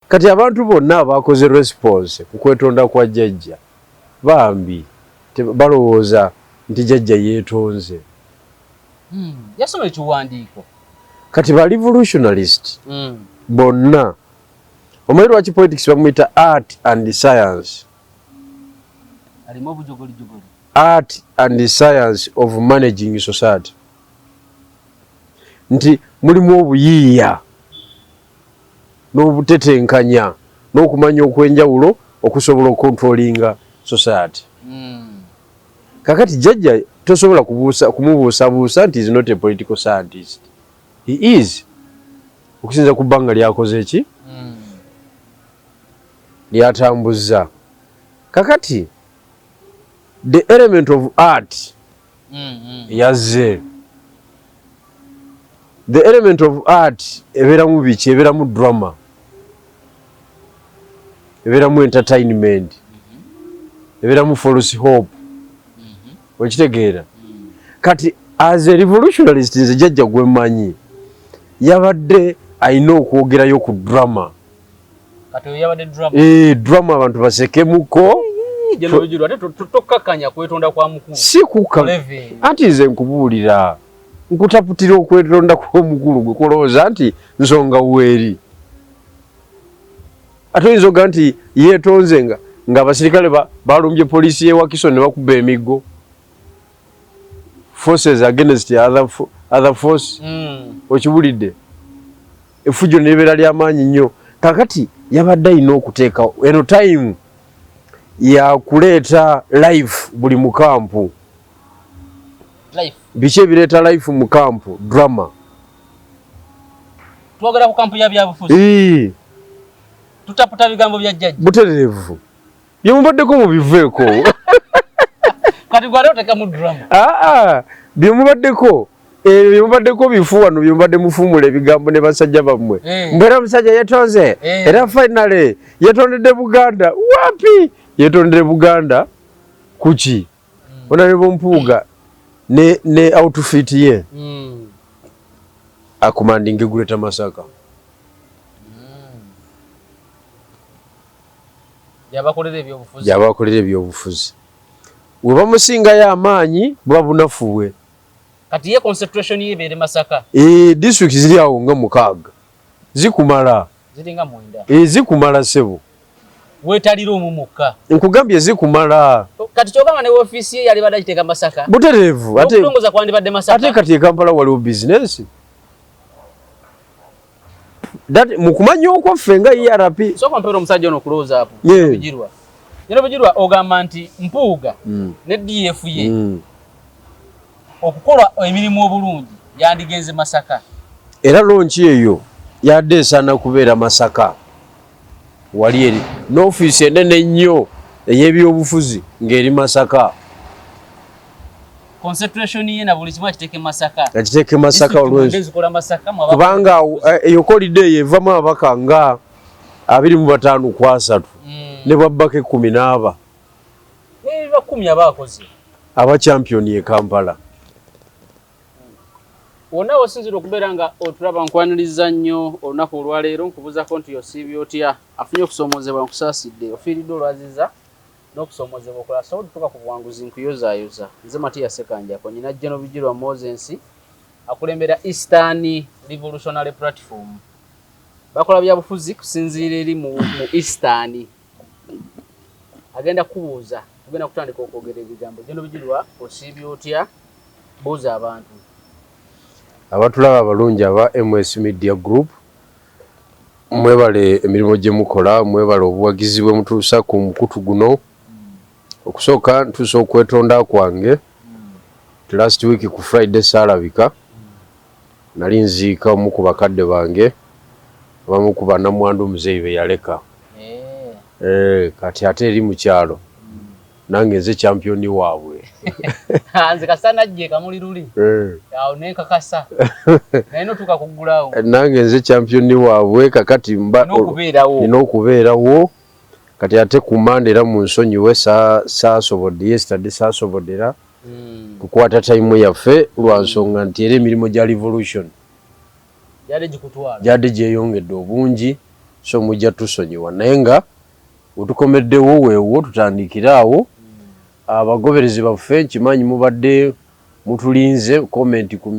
Kati abantu bonna abakoze response ku kwetonda kwa jajja bambi balowooza nti jajja yetonze hmm, yasoma ekiwandiiko kati ba revolutionalist hmm. bonna omanyi lwaki politics bamuyita art and science art and science of managing society nti mulimu obuyiiya n'obutetenkanya n'okumanya okwenjawulo okusobola okontrolinga society mm. kakati jjajja tosobola kumubuusabuusa nti is not a political scientist he is okusinza ku bbanga lyakoze ki mm. lyatambuzza kakati the element of art yazze the element of art ebeeramu biki ebeeramu drama ebeeramu entertainment ebeeramu false hope okitegeera kati as a revolutionalist nze jajja gwemanyi yabadde alina okwogerayo ku drama Kati oyo yabadde drama. Eh, drama abantu basekemuko. Jeno bijuru ate tokakanya kwetonda kwa mukulu. Si kuka. Ati nze nkubuulira. Nkutaputira okwetonda kwa mukulu gwe kulowooza nti nsonga weeri. Ate oyinza oga nti yeetonze nga ng'abasirikale balumbye poliisi y'e Wakiso ne bakuba emiggo. Forces against other, other force. Mm. Okiwulidde? efujjo nebeera lyamaanyi nnyo kakati yabadde alina okuteekawo eno time yakuleeta life buli mukampu biki ebireeta life mu kampu drama twogera ku kampu ya byabufuzi tutaputa bigambo bya jjajja butereevu Byemubaddeko mubiveeko. Kati gwali otekamu drama. Ah ah. Byemubaddeko ebyo byemubaddeko bifu wano byemubadde mufuumula ebigambo ne basajja bammwe eh. mbeera omusajja yetonze eh. era finally yetondedde buganda wapi yetondedde buganda kuki hmm. onalebo mpuuga ne, ne outfit ye mm. akumandinga eguleta masaka gyabakolera ebyobufuzi webamusingayo amaanyi buba bunafu bwe eh, district ziri awo nga mukaaga zikumala eh, zikumala sebo wetalira omu mukka nkugambye zikumala kati kyogamba ne ofisi ye yali badakiteeka masaka butereevu ate kati ekampala waliwo bizinesi That mukumanya okwo ffe nga ERP. Soko mpero omusajja ono close up. Yeah. Bijirwa. Yero bijirwa ogamba nti mpuuga mm. ne DF ye. Mm. Okukola emirimu obulungi yandigenze Masaka. Era lonchi eyo yadde esana kubeera Masaka. Wali eri n'ofiisi enene ennyo ey'ebyobufuzi ng'eri Masaka. Concentration ye na buli kimu akiteeke Masaka. Akiteeke Masaka olwezi. Kubanga eh, eyo kolide eyo evamu ababaka nga abiri mu bataano ku asatu mm. ne bwabbaka ekkumi n'aba. Aba champion ye Kampala. wonna wosinzira okubeera nga otulaba nkwaniriza nnyo olunaku olwaleero nkubuuzako nti osiibye otya afunye okusoomoozebwa nkusaasidde ofiiridde olwaziza n'okusoomoozebwa okola asobola otutuuka ku buwanguzi nkuyozaayoza nze matiya sekanjako nyina jeno bijirwa mosensi akulembera eastern revolutionary platform bakola byabufuzi kusinziira eri mu eastern agenda kubuuza ogenda kutandika okwogera ebigambo gino bijirwa osiibye otya buuza abantu abatulaba abalungi aba ms media group mwebale emirimu gye mukola mwebale obuwagizi bwe mutuusa ku mukutu guno okusooka ntuusa okwetonda kwange last week ku friday saalabika Nali nziika omu ku bakadde bange abamu ku bannamwandu muzeeyi be yaleka. Eeh kati ate eri mu kyalo nange nze kyampiyoni waabwe. Nze kasita najja e Kamuli luli awo ne nkakasa naye n'otuuka kuggulawo. Nange nze kyampiyoni waabwe kakati mba nina okubeerawo. Kati ate ku Mmande era munsonyiwe saasobodde, yesterday saasobodde era. hmm. kukwata time yaffe lwa nsonga nti era emirimu gya revolution gyadde gyeyongedde obungi so mujja tusonyiwa naye nga wetukomeddewo weewo tutandikire awo hmm. abagoberezi baffe nkimanyi mubadde mutulinze comment ku,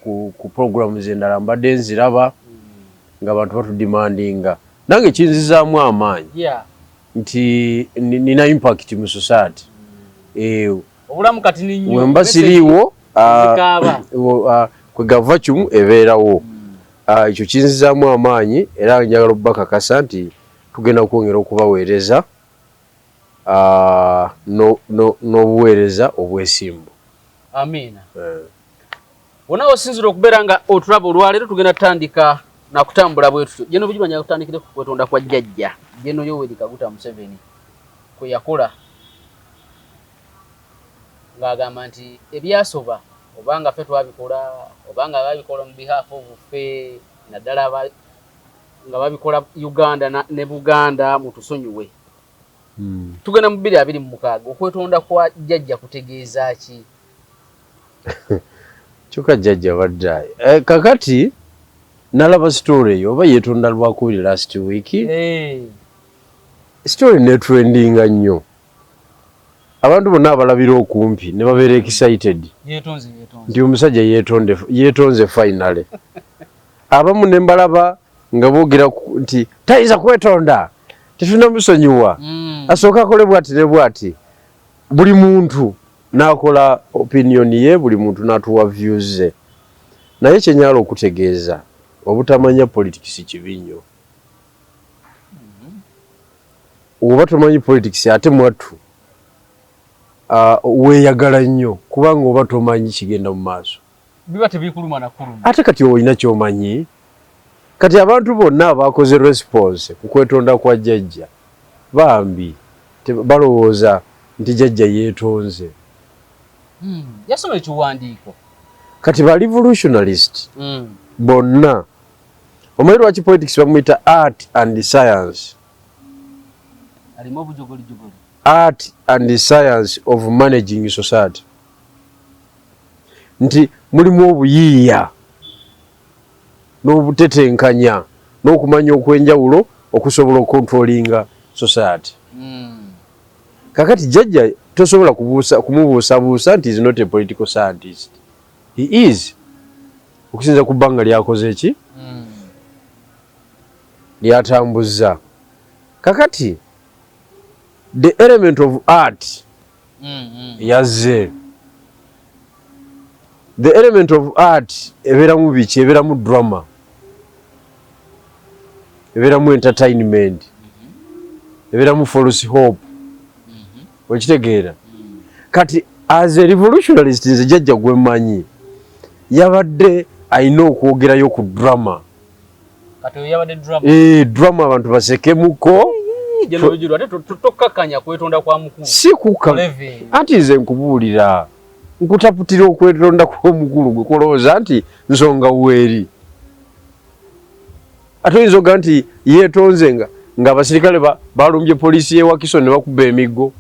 ku, ku programs endala mbadde nziraba hmm. nga abantu batudimandinga nange kinzizaamu amaanyi yeah. nti nina impact mu society eyo obulamu kati ninyo wemba siriwo ah, ah, kwegava kimu ebeerawo hmm. ah, ekyo kinzizaamu amaanyi era njagala okubakakasa nti tugenda kwongera okubaweereza n'obuweereza obwesimbu amiina eh. wona wosinzira okubeera nga otulaba olwaleero tugenda tutandika nakutambula bwetutyo jeno bujumanya kutandikire ku kwetonda kwa jjajja jeno yoweri kaguta museveni kwe yakola ng'agamba nti ebyasoba obanga ffe twabikola obanga babikola mu behalf of ffe naddala nga babikola uganda ne buganda mutusonyiwe hmm. tugenda mu bbiri abiri mu mukaaga okwetonda kwa jjajja kutegeeza ki Kyoka jajja abadde eh, kakati nalaba story eyo oba yetonda lwakubiri last week hey. Eh. story netrendinga nnyo abantu bonna abalabira okumpi ne babeera excited nti omusajja yetonze finally abamu ne mbalaba nga boogera nti tayinza kwetonda tetunamusonyiwa mm. asooka akole bwati ne bwati buli muntu Nakola opinion ye buli muntu natuwa views ze naye kyenyala okutegeeza obutamanya politics kibi nnyo oba tomanyi politics ate mwattu uh, weyagala nnyo kubanga oba tomanyi kigenda mu maaso biba tebikuluma na kuluma. Ate kati olina kyomanyi kati abantu bonna abakoze response ku kwetonda kwa jajja bambi balowooza nti jajja yetonze hmm, yasoma ekiwandiiko kati ba revolutionalist hmm. bonna omanyi lwaki politics bamuyita art and science art and science of managing society nti mulimu obuyiiya n'obutetenkanya n'okumanya okwenjawulo okusobola okontrolinga society mm. kakati jajja tosobola kumubuusabuusa nti is not a political scientist he is okusinza ku bbanga lyakoze eki mm. lyatambuzza kakati the element of art yazze the element of art ebeeramu biki ebeeramu drama ebeeramu entertainment ebeeramu false hope okitegeera kati as a revolutionalist nze jajja gwemanyi yabadde alina okwogerayo ku drama Kati oyo yabadde drama. Eh, drama abantu basekemuko. Jeno bijuru ate tokakanya kwetonda kwa mukulu. Si kuka. Ati nze nkubuulira. Nkutaputira okwetonda kwa mukulu gwe kulowooza nti nsonga weeri. Ate oyinza oga nti yeetonze nga ng'abasirikale balumbye poliisi y'e Wakiso ne bakuba emiggo.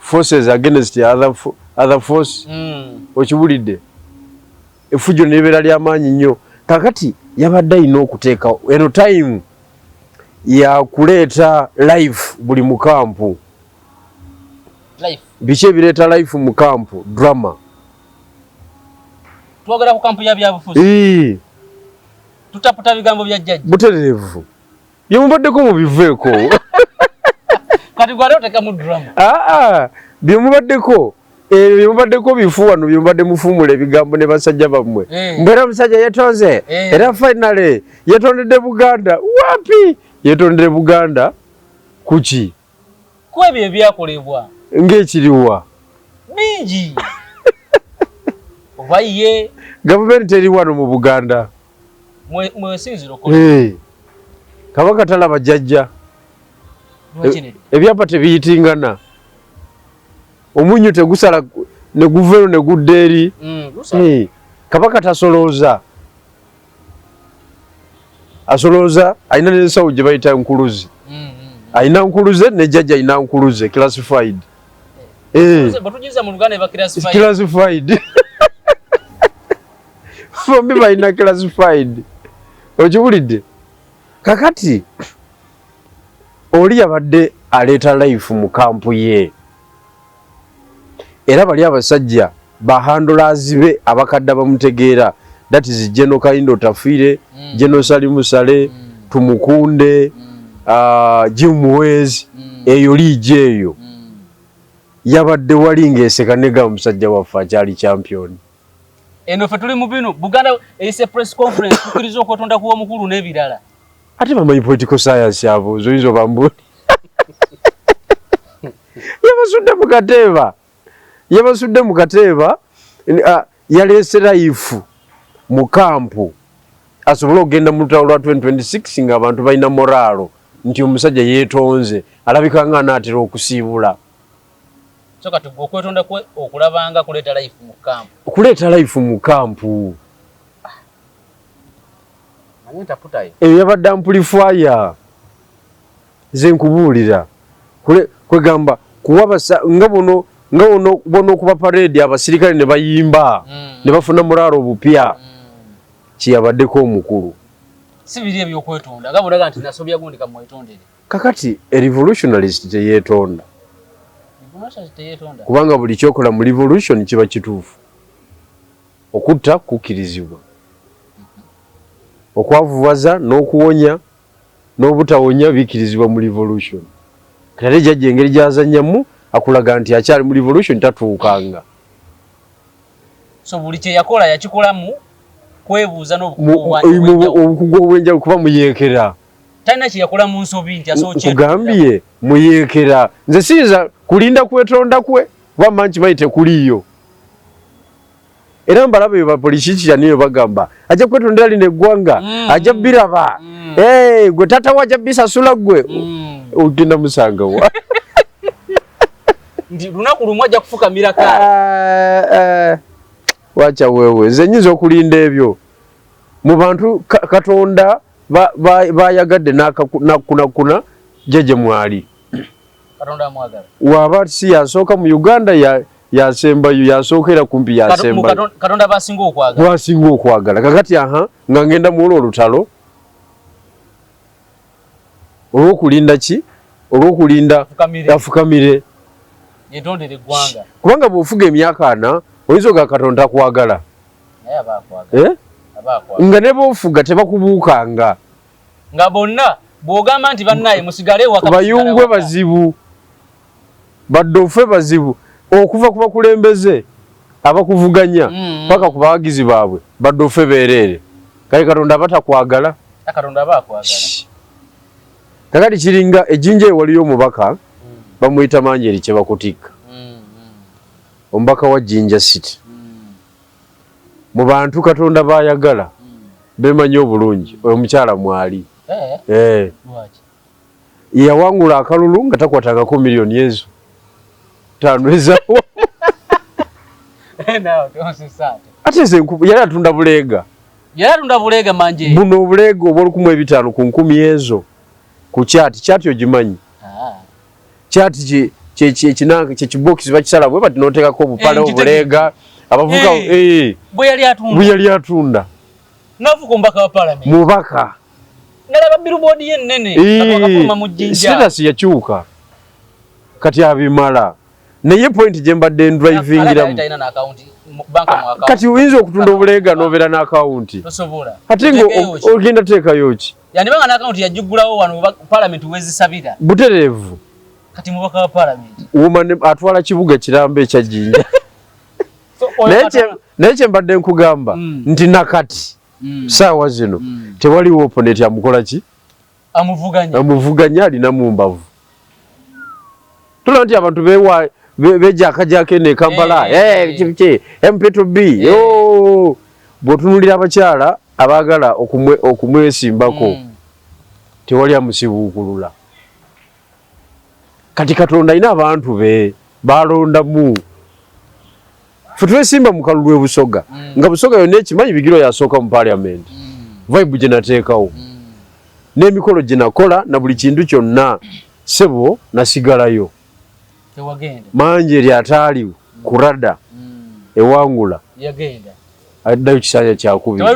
Forces against other, other force. Mm. Okiwulidde? efujjo nebeera lyamaanyi nnyo kakati yabadde alina okuteekawo eno time yakuleeta live buli mukampu biki ebireeta life mu kampu drama twogera ku kampu ya byabufuzi tutaputa bigambo bya jjajja butereevu Bye mubaddeko mubiveeko. Kati gwali otekamu drama. Ah ah. Bye mubaddeko ebyo eh, byemubaddeko bifu wano byemubadde mufuumula ebigambo ne basajja bammwe eh. mbeera omusajja yetonze eh. era finally yetondedde buganda wapi yetondedde buganda kuki ku ebyo ebyakolebwa. Ng'ekiriwa? Bingi. Oba ye. Gavumenti eri wano mu Buganda. Mwesinzira okola. Eh. Kabaka talaba jajja. E, ebyapa tebiyitingana. Omunyu tegusala ne guveero ne gudda eri. Mm, eh. Kabaka tasolooza. asolooza alina nensawo gye bayita nkuluzi mm, mm, mm. alina nkuluze ne jajja alina nkuluze classified eh. classified bombi balina classified okiwulidde kakati oli yabadde aleeta life mu kampu ye era bali abasajja ba handlers be abakadda bamutegeera that is General Kaindo Tafire mm. General Salimu Sale mm. Tumukunde mm. Uh, Jim Muwezi mm. eyo liigi eyo mm. yabadde wali ng'eseka nega omusajja waffe akyali champion eno fe tuli mu bino buganda eyise press conference tukiriza okwetonda kuwa omukulu n'ebirala ate bamanyi political science abo zoyinza obambuli yabasudde mu kateeba yabasudde mu kateeba ah, yaleese layifu mu kampu asobole okugenda mu lutalo lwa 2026 nga abantu balina moraalo nti omusajja yeetonze alabika nga anaatera okusiibula okuleeta layifu mu kampu eyo yabadde ampulifaya nze nkubuulira kwegamba kuwabasa nga buno nga ono bona okuba parade abasirikale ne bayimba mm. ne bafuna muraaro obupya mm. kyeyabaddeko omukulu sibiri ebyokwetonda nga bulaga nti nasobya gundi kamwetondere kakati a revolutionalist teyetonda kubanga buli kyokola mu revolution kiba kituufu Okutta kukkirizibwa. Okwavuwaza n'okuwonya n'obutawonya bikkirizibwa mu Revolution. Kati ate Jajja engeri gy'azannyamu akulaga nti akyali mu Revolution tatuukanga. So buli kye yakola yakikolamu kwebuuza n'obukugu obw'enjawulo kuba muyeekera. Talina kye yakola mu nsobi nti asobola kye. Nkugambye muyeekera. Nze siyinza kulinda kwetonda kwe kuba mmanyi kimanyi tekuliiyo. era mbalaba eyo bapolicicia niyo bagamba ajja kwetondera lino eggwanga mm. ajja biraba mm. eh, gwe tata wa ajja bisasula gwe mm. ogenda musanga wa ndi lunaku lumu ajja kufukamira ka eh, eh. wacha wewe nze nyinza okulinda ebyo mu bantu katonda bayagadde nakunakuna jeje mwali katonda amwagala waba si yasooka mu uganda ya yasembayo yasookera kumpi yasembayo katonda basinga okwagala basinga okwagala kakati aha nga ngenda muwola olutalo olwokulinda ki olwokulinda afukamire yetondere eggwanga kubanga bwofuga emyaka ana oyinza oga katonda takwagala eh? nga ne boofuga tebakubuukanga nga bonna bw'ogamba nti bannaaye musigale ewaka bayungwe bazibu baddofe bazibu okuva ku bakulembeze abakuvuganya mm. paka ku bawagizi baabwe baddofe beereere kale katonda aba takwagala kakati kiringa ejjinja e waliyo omubaka mm. bamuyita manjeri kye bakutikka mm, omubaka wa jinja city mu bantu katonda bayagala bemanyi obulungi oyo mukyala mwali eh, eh. yawangula akalulu nga takwatangako miliyoni ezo tanwezawo ate nze yali atunda buleega buno obuleega obwolukumu ebitaano ku nkumi ezo ku kyati kyati ogimanyi chat ki kye kye kinange kye kibox bakisala bwe bati noteka ko bupale eh, obulega abavuka eh, eh bwe yali atunda bwe yali atunda nafu kumbaka wa parliament mubaka ngala ba billboard ye nene akakuma mu jinja status ya chuka kati abimala naye point je mbadde driving ira kati uyinza okutunda obulega nobera na account tosobola ati ngo ogenda teka yoki Yandiba nga n'akawunti yagiggulawo wano oba palamenti wezisabira. Butereevu. Kati mubaka wa palamenti. Woman atwala kibuga kiramba ekya Jinja. Naye kye mbadde nkugamba mm. nti nakati mm. saawa zino mm. tewaliwo oponeti amukola ki? Amuvuganya. Amuvuganya alina mu mbavu. tulaba nti abantu bewa bejakajako eno ekampala kiki eh, eh, mp2b oh. bwotunulira abakyala abaagala okumwesimbako hmm. tewali amusibuukulula kati katonda alina abantu be balondamu ffe twesimba mu kalulu e busoga mm. nga busoga yonna ekimanyi bigiro yasooka mu paliamenti mm. vibe gye nateekawo mm. n'emikolo gye nakola na buli kintu kyonna sebo nasigalayo manje eri ataali kurada ewangula addayo kisanja kyakubiri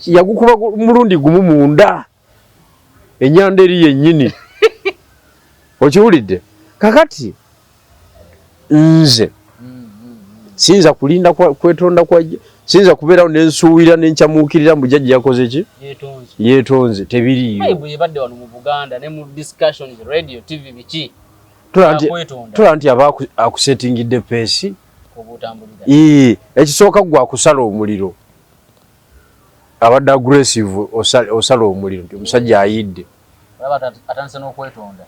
yagukuba mulundi gumu munda mm. enyanda eri yenyini okiwulidde kakati nze siyinza kulinda kwetonda kwa siyinza kubeerawo nensuubira nenkyamuukirira mbu jajja yakoze ki yetonze tebiriyotola nti aba akusetingidde peesi ekisooka gwe akusala omuliro abadde aggressive osala osala omuliro nti omusajja ayidde atandise n'okwetonda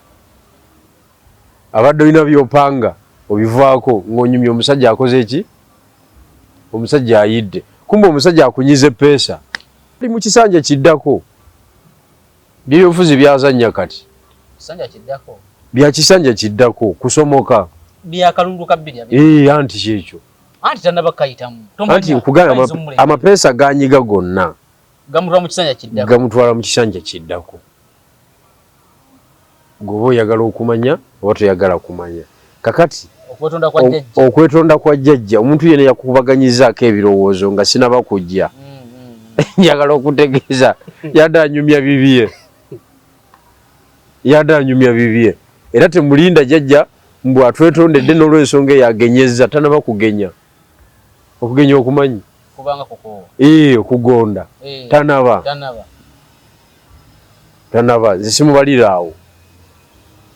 abadde olina byopanga obivaako ng'onyumya omusajja akoze ki omusajja ayidde kumba omusajja akunyize peesa ali mu kisanja kiddako byebyobufuzi byazannya kati bya kisanja kiddako kusomoka anti kyekyo anti tanaba kayitamu anti nkugamba amapeesa ganyiga gonna gamutwala mu kisanja kiddako gamutwala mu kisanja kiddako goba oyagala okumanya oba toyagala kumanya kakati okwetonda kwa jjajja omuntu yena yakubaganyizaako ebirowoozo nga sinaba kujja mm, mm, mm. njagala okutegeeza yadanyumya bibye Yade anyumya bibye era temulinda jajja mbu atwetondedde nolwensonga eyo agenyezza tanaba kugenya okugenya okumanyi kubanga kukoowa ee okugonda ee. tanaba tanaba tanaba nze simubalira awo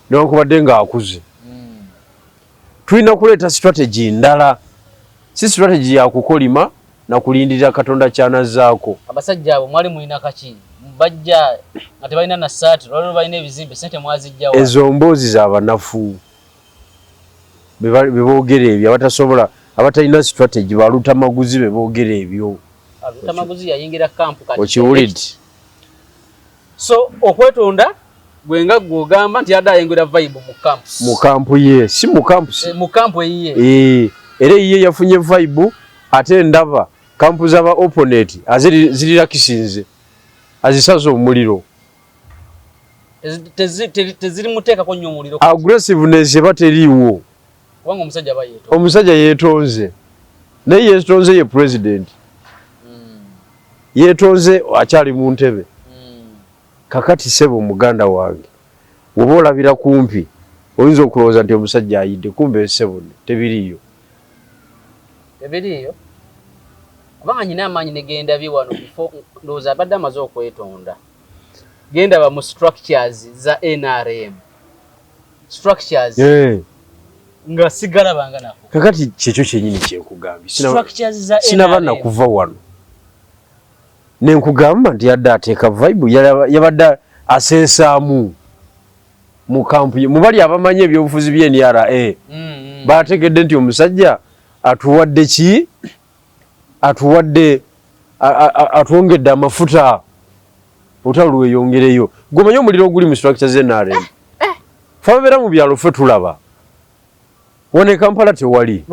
newankubadde nga akuze Tulina kuleeta strategy ndala, si strategy ya kukolima na kulindirira Katonda ky'anazzaako. Abasajja abo mwali mulina kaki? Bajja nga tebalina na ssaati, lwali lubalina ebizimbe, ssente mwaziggya wa? Ezo mboozi za banafu be boogera ebyo, abatasobola abatalina strategy, ba lutamaguzi be boogera ebyo. Lutamaguzi yayingira kkampu kati. Okiwulidde? so okwetonda gwe nga gwe ogamba nti yadde ayengera vibe mu camp mu camp ye si mu camp si eh, mu camp eyiye ee eh, era eyiye yafunye vibe ate ndaba kampu zaba opponent aziri zirira kisinze azisaza omuliro teziri muteeka ko nyo omuliro aggressiveness eba teriiwo omusajja yetonze naye yetonze ye president hmm. yetonze akyali mu ntebe hmm. kakati sebo muganda wange woba olabira kumpi oyinza okulowooza nti omusajja ayidde kumbe esebo tebiriyo tebiriyo kubanga nyina amaanyi negenda bye wano bifo ndowooza abadde amaze okwetonda genda ba mu structures za nrm structures eh nga sigala banga nako kakati kyekyo kyenyini kyekugambye sinaba nakuva wano nenkugamba nti yadde ateeka vibe yabadde asensaamu mu kampu ye mubali abamanyi ebyobufuzi bye nra mm, mm. bategedde nti omusajja atuwadde ki atuwadde atwongedde amafuta olutalo lweyongereyo gwe omanyi omuliro oguli mu structure ze nrm eh, eh. fe ababeera mu byalo fe tulaba wano ekampala tewali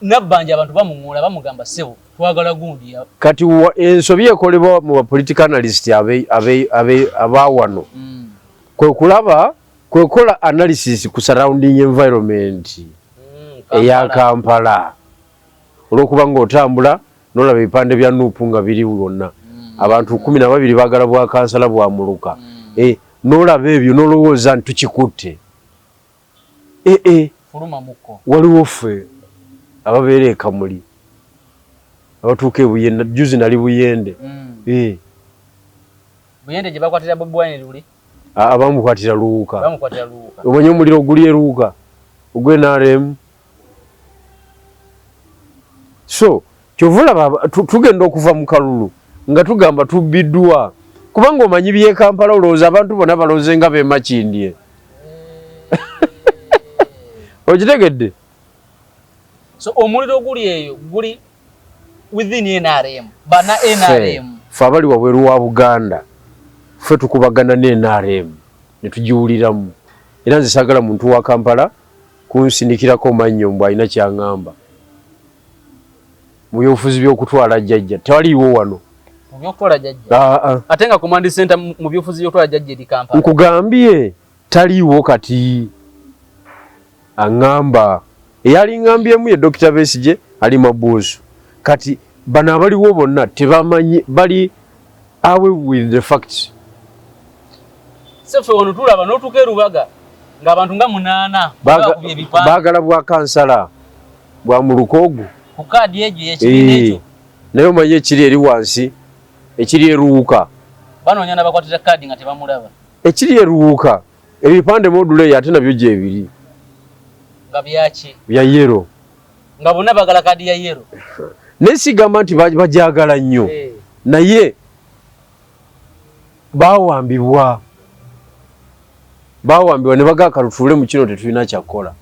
nabbanja abantu bamuŋoola bamugamba ssebo twagala gundi kati ensobi ekolebwa mu bapolitical analyst abaawano mm. kwe kulaba kwekola analysis ku surrounding environment mm, eya Kampala olwokuba nga otambula nolaba ebipande bya nup nga biri wonna mm. abantu kumi na babiri bagala bwa kansala bwa muluka mm. eh, nolaba ebyo nolowooza nti tukikutte eh, eh. waliwo ffe ababeera ekamuli abatuuka ebuyende juzi nali buyende mm. eh. buyende gye bakwatira bobi wine luli abamukwatira luwuka obonye omuliro oguli eruwuka ogwe nrm so kyova olaba tugenda okuva mu kalulu nga tugamba tubbiddwa kubanga omanyi byekampala olowooza abantu bona balonze nga bemakindye okitegedde so omuliro guli eyo guli within NRM bana NRM fe abali wabweru wa Buganda fe tukubagana ne NRM ne tujiwuliramu era nze sagala muntu wa Kampala kunsindikirako mannyo mbu alina kyangamba mu byobufuzi by'okutwala jjajja tewaliiwo wano mu by'okutwala jjajja ah, ah. ate nga command center mu byobufuzi by'okutwala jjajja eri Kampala nkugambye taliiwo kati aŋŋamba eyalingambyemu ye dokita besigye ali mabuusu kati bano abaliwo bonna tebamanyi bali awe with the facts sefe wano tulaba notuka erubaga ngaabantu nga munaana bagala bwa kansala bwa mulukoogu ku kaadi egyo yekibiina eh, ekyo naye omanyi ekiri eri wansi ekiri eruwuka banoonya nabakwatira kaadi nga tebamulaba Ekiri e Luwuuka ebipande module ye ate nabyo gyebiri nga byaki bya yero nga bonna bagala kadi ya yero naye sigamba nti bagyagala nnyo eh. naye bawambibwa bawambibwa ne bagaa kalutuule mu kino tetulina kyakukola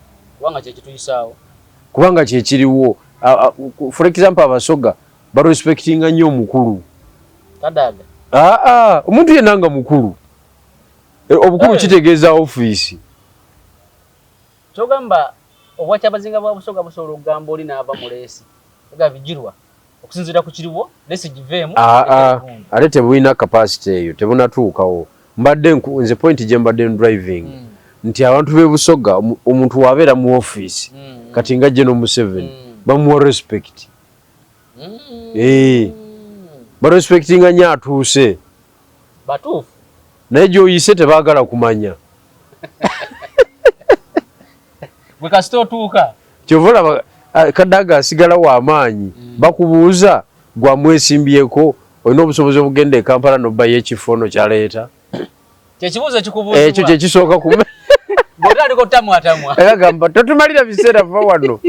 kubanga kyekiriwo for example abasoga barespectinga nnyo omukulu kadaga aa ah, ah, omuntu yenna nga mukulu e, obukulu kitegeeza ofiisi kyogamba obwakyabazinga bwa busoga busobola okugamba oli naava mu leesi ega bijirwa okusinziira ku kiriwo leesi giveemu ah, ate tebulina kapasite eyo tebunatuukawo mbadde nze point gye mbadde driving mm. nti abantu b'e busoga omuntu wabeera mu ofiisi mm. kati nga gye no museveni mm. bamuwa respect Eh. barespectinga nyo atuuse naye gyoyise tebagala kumanya kyovolaba ah, kadaga asigala wamaanyi mm. bakubuuza gwamwesimbyeko olina obusobozi obugenda ekampala nobayo ekifo no kyaleeta kyekibuuzo ekikubuuzibwa ekyo kyekisooka kuba bwotandika otamwatamwa era gamba totumalira biseera va wano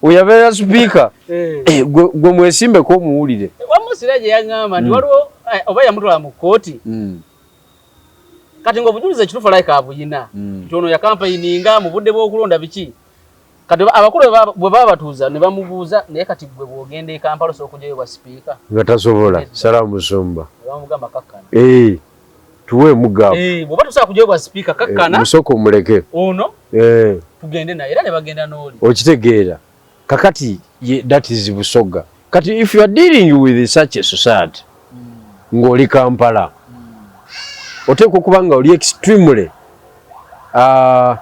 oyabeera sipiika eh. eh, gwe mwesimbeko omuwulire wamusira gye yaŋŋamba nti mm. waliwo eh, oba yamutwala mu kkooti mm. kati ng'obujulizi ekituufu like abuyina mm. nti ono yakampeyininga mu budde bw'okulonda biki kati abakulu bwe babatuuza ne bamubuuza naye kati gwe bw'ogenda e kampala osobola okugyayo bwa sipiika nga tasobola sala musumba bamugamba kakkana eh, tuwe mugabo eh, bw'oba tosobola kugyayo bwa sipiika kakkana eh, musooka omuleke ono tugende naye era ne bagenda n'oli okitegeera kakati ye datizi busoga kati if you are dealing with such a society mm. ng'oli kampala mm. oteekwa okuba nga oli extremely uh,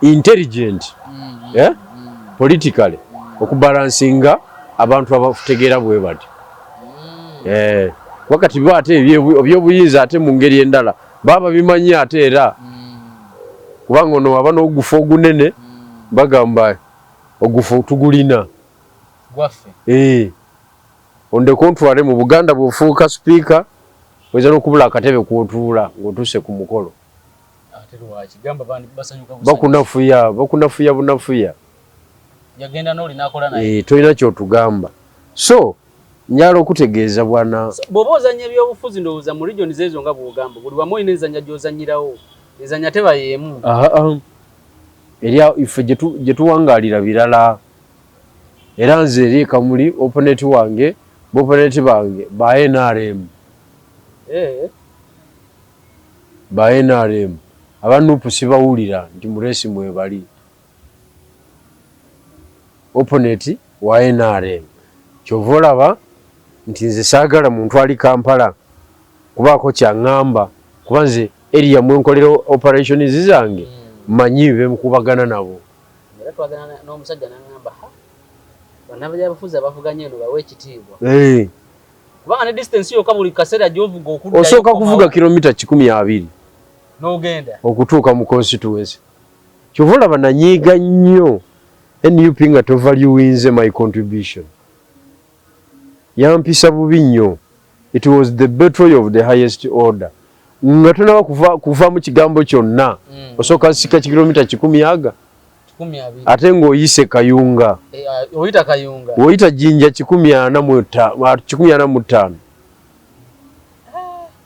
intelligent mm -hmm. yeah? mm. politically mm. okubalansinga abantu abategeera bwe bati mm. eh, wakati bo ate ebyobuyinza ate mu ngeri endala baba bimanyi ate era mm. kubanga ono waba n'ogufa ogunene mm. bagamba ogufa tugulina gwaffe ee ondeka ontwale mu buganda bwofuuka sipiika oyinza nokubula akatebe kwotuula ngotuse ku mukolo bakunafuya bakunafuya bunafuya ee tolina kyotugamba so njala okutegeeza bwana bwoba ozanya ebyobufuzi ndowooza mu region zeezo nga bwogamba buli wamu olina enzanya gyozanyirawo ezanya teba yeemu eri ife gyetuwangalira birala era nze eri ekamuli oponeti wange boponeti bange ba nrm eh. ba nrm aba nupu sibawulira nti muresi mwebali oponeti wa nrm kyova olaba nti nze sagala muntu ali kampala kubaako kyaŋŋamba kuba nze eriya mwenkolera operationi zange mm. manyi bemukubagana nabo mm. Era twagana n'omusajja n'angamba ha bannabyabufuzi abavuganya eno bawe ekitiibwa eh. kubanga ne distance yokka buli kaseera gy'ovuga okudda osooka kuvuga kilomita kikumi abiri n'ogenda okutuuka mu constituency kyova olaba nanyiiga nnyo nup nga tovaluwinze my contribution Yampisa bubi nnyo. It was the betrayal of the highest order. Nga tonaba kuva, kuva mu kigambo kyonna mm. osooka sika kikilomita kikumi aga ate ng'oyise kayunga e, uh, oyita kayunga oyita jinja kikumi ana mu ttaano ah,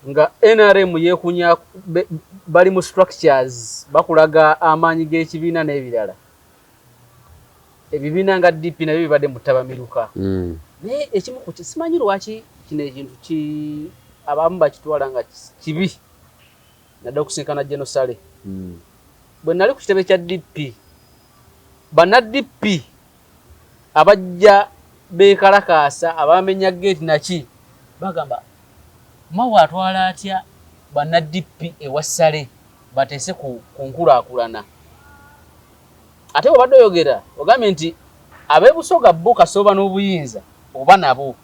Nga nrm yekunya bali mu structures bakulaga amaanyi g'ekibiina n'ebirala. Ebibiina nga DP nabyo bibadde mu ttabamiruka. Mm. Naye ekimu ku simanyi lwaki kino ekintu ki abamu bakitwala nga kibi nadde okusinkana genosale. Mm. Bwe nali ku kitebe kya DP, banna DP Abajja beekalakaasa abaamenya geeti naki bagamba Mao atwala atya banna DP ewa Ssale bateese ku ku nkulaakulana. Ate bw'obadde oyogera ogambye nti ab'e Busoga bo kasooba n'obuyinza oba nabo.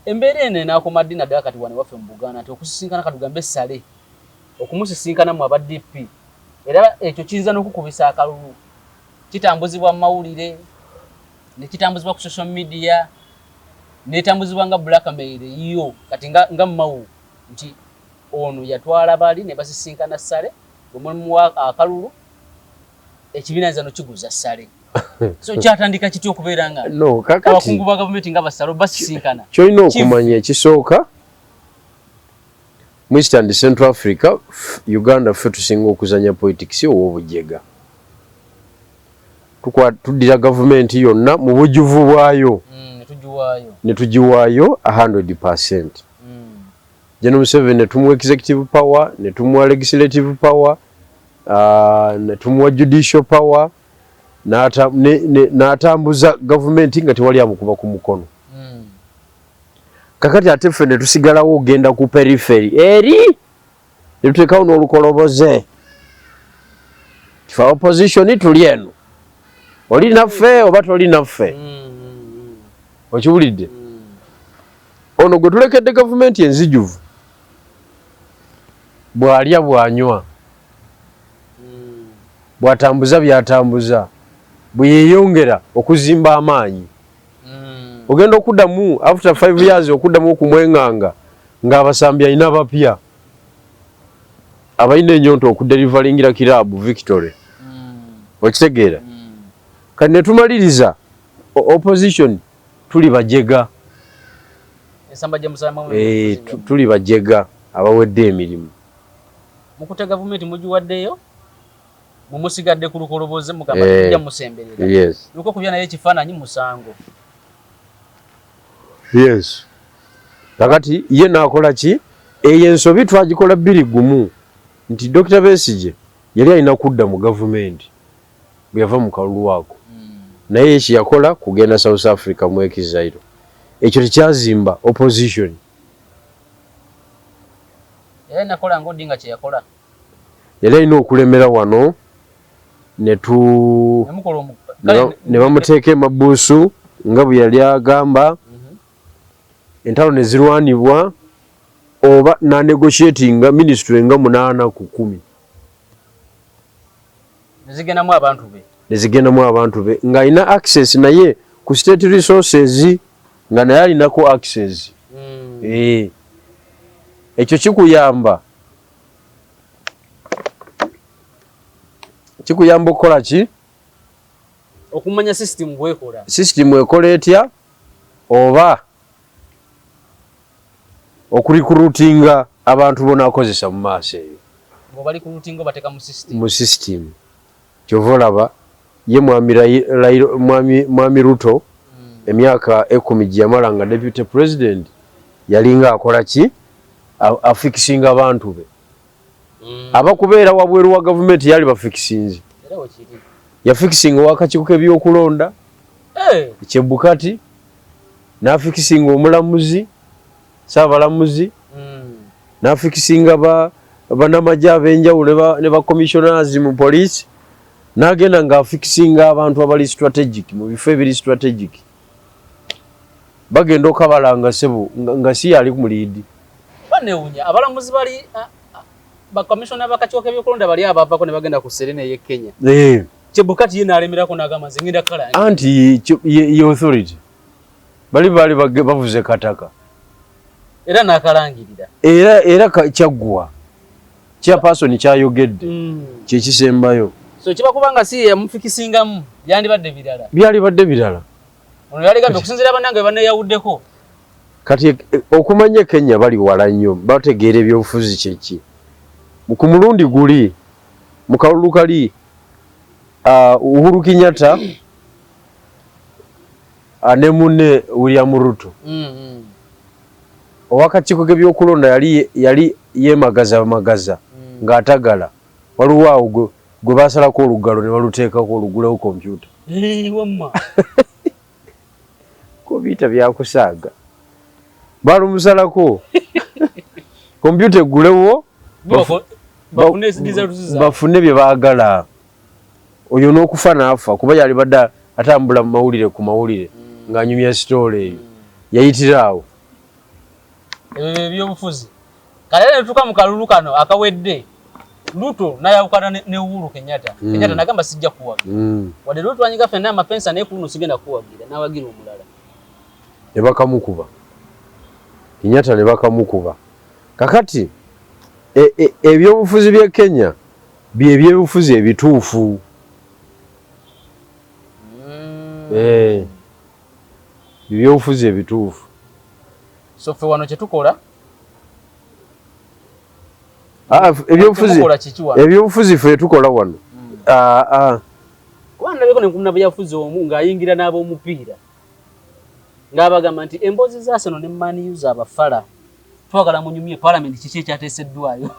Embeera eno enaakoma ddi naddala kati wano ewaffe mu Buganda nti okusisinkana katugambe Ssale. okumusisinkana mu aba DP era ekyo kiyinza n'okukubisa akalulu. Kitambuzibwa mu mawulire, ne kitambuzibwa ku social media, n'etambuzibwa nga blackmail eyiyo kati nga, nga mawu nti ono yatwala bali ne basisinkana Ssale bwe mulimuwa akalulu ekibiina nzano kiguza Ssale so kyatandika kitya okubeera nga no, abakungu ba gavumenti nga basalo basisinkana kyolina okumanya ekisooka Mu East and Central Africa, Uganda ffe tusinga okuzanya politics ow'obujega. Tuddira gavumenti yonna mu bujuvu bwayo mm, ne tugiwaayo 100 percent. Mm. Geno Museveni ne tumuwa executive power, ne tumuwa legislative power, uh, ne tumuwa judicial power, n'atambuza gavumenti nga tewali amukuba ku mukono. kakati ate ffe ne tusigalawo okugenda ku periferi eri ne tuteekawo n'olukoloboze kifa opposition tuli eno oli naffe oba toli naffe okiwulidde ono gwe tulekedde gavumenti enzijuvu bw'alya bw'anywa bw'atambuza by'atambuza bwe yeeyongera okuzimba amaanyi mm. ogenda okudamu after 5 years okudamu okumwenganga nga abasambi alina bapya abalina enyonta okuderivalingira kirabu victory mm. okitegeera mm. kati netumaliriza opposition tuli bajega eh, tuli bajega abawedde emirimu mukute gavumenti mugiwaddeyo mwe musigadde ku lukoloboze mugamba eh, tujja musemberera yes nuko kubya naye ekifaananyi musango yes kakati ye nakola ki eyo ensobi twagikola bbiri gumu nti dokita besigye yali alina kudda mu gavumenti bwe yava mu kalulu ako hmm. naye eki yakola kugenda south africa mu ekizairo ekyo tekyazimba opposition era nakola ngaodinga kyeyakola yali alina okulemera wano netu ne bamuteeka emabuusu nga bwe yali agamba mhm. entalo ne zirwanibwa oba nanegosyetinga minisitule nga munaana ku kumi nezigendamu abantu be nezigendamu abantu be ng'alina access naye ku state resources nga naye alinako access mm. eh. ekyo kikuyamba kikuyamba okukola ki okumanya system bwekola system ekola etya oba okurikurutinga abantu bonakozesa mu maaso eyo mu system Kyova olaba ye mwami Raila mwami mwami Ruto emyaka ekumi jeyamala nga deputy president yalinga akola ki afikisinga abantu be mm. aba kubeera wabweru wa gavumenti yali bafikisinzi yafikisinga owakakiiko kebyokulonda eh. ekyebukati nafikisinga omulamuzi saabalamuzi n'afikisinga banamagye ab'enjawulo ne bacommissioners mu poliisi n'agenda ng'afikisinga abantu abali strategic mu bifo ebiri strategic bagenda okabalanga sebo nga si yali ku muliidi banewunya abalamuzi bali bakomisiona bakakiiko k'ebyokulonda bali abavako ne bagenda ku serena ey'e kenya eh. kyebukati ye n'alemerako n'agamba nze ngenda kala anti ye authority bali baali bavuze kataka era nakalangirira era era kyaggwa chairperson kyayogedde mm. kyekisembayo so kiba kubanga si yamufikisingamu byandibadde birala byalibadde birala ono yaligambye okusinzira banange baneyawuddeko kati e, e, okumanya kenya bali wala nnyo bategeera ebyobufuzi kyeki ku mulundi guli mu kalulu kali uh, uhuru kinyata ah, ne munne William Ruto mm-hmm. owakakiiko kebyokulonda yali yemagaza magaza mm. ng'atagala waliwo awo gwe basalako olugalo ne baluteekako olugulewo kompyuta kompyuta byakusaaga balumusalako kompyuta eggulewo bafune bye baagala oyo n'okufa n'afa kuba yalibadde atambula mu mawulire ku mawulire mm. ng'anyumya sitoola eyo mm. yayitira awo ebyobufuzi kale era netuuka mu kalulu kano akawedde luto nayawukana ne uhuru kenyatta mm. kenyatta nagamba sijja kuwagira wadde luto twanyiga fenna amapensa naye kuluno sigenda kuwagira nawagira omulala ne bakamukuba kenyatta ne bakamukuba kakati e, e, ebyobufuzi bye kenya Bye byebufuzi ebituufu. Mm. Eh. Bye byebufuzi ebituufu. So fe wano kyetukola Ah, ebyobufuzi ebyobufuzi fe tukola wano hmm. ah, ah. kuba nalabeko nenkumna bweyafuzi omu ng'ayingira n'ab'omupiira ng'abagamba nti emboozi za seno ne maniyu za bafala twagala munyumye palamenti kiki ekyateeseddwayo